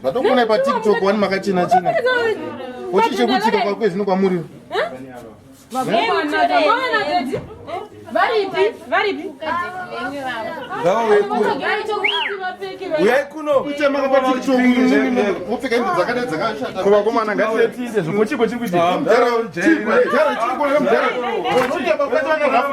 Ndatokuona pa TikTok wani makachena chena. Ochi chekutika kwa kwezi nokwamuri. Varipi? Varipi? Gawa wekuru. Uyekuno. Uchema kwa TikTok mupfeka hembe dzakada dzakashata. Kuba koma nanga tiende zvokuchiko chikuti. Mdara, mdara, mdara. Ochi chapa kwa tana rafu.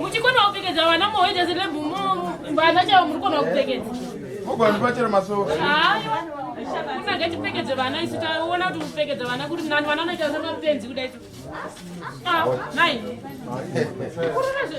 muchikona kupfekedza vana mohoita selebhu vana chavo muri kona kupfekedza moganipachero masoo kunage tipfekedze vana isu taona kuti kupfekedza vana kuri nani vana vanoita semapenzi kuda isu nai kurunazve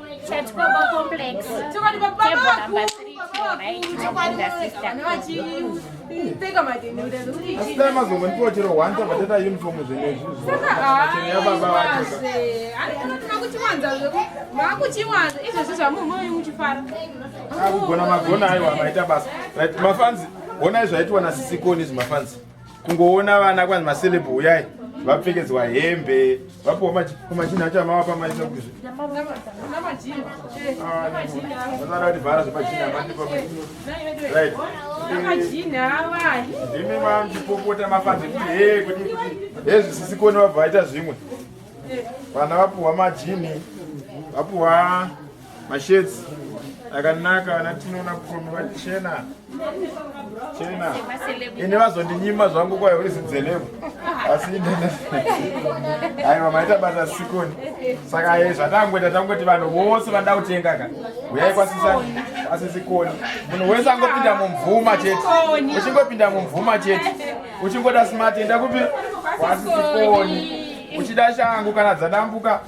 Chatikobo complex table number 3 akugona magona aiwa maita basa right mafanzi honai zvaitwa nasisikoni izvi mafanzi kungoona vana kwanzi maceleb uyai vapfekedzwa hembe vapiwa machinhu acho amavapa maisa kuzvi vanoda kuti vhara zvemachinhu amandipaarit ndimi mandipopota mafanze kuti he kuti hezvisisikoni vabva vaita zvimwe vana vapiwa majini vapiwa Mashirts akanaka vana tinoona kuno vachena chena ini vazondinyima zvangu kwayo uri zidzelevu asi aiwa maita basa sikoni saka ye zvatangoita tangoti vanhu vose vanoda kutenga ka uyai kwasisa asisikoni munhu wese angopinda mumvuma chete uchingopinda mumvuma chete uchingoda smart enda kupi kwasisikoni uchida shangu kana dzadambuka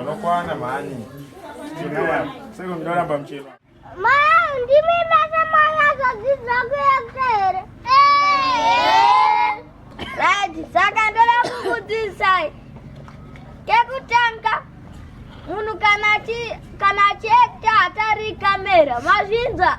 Anokwana mhani. Sasa mdora bamchema. Ma, ndimi basa mwana zozizwa kuyakta here. Right, saka ndoda kukudzidzisai. Kekutanga munhu kana achiekta hatarika mera, mazvinzwa?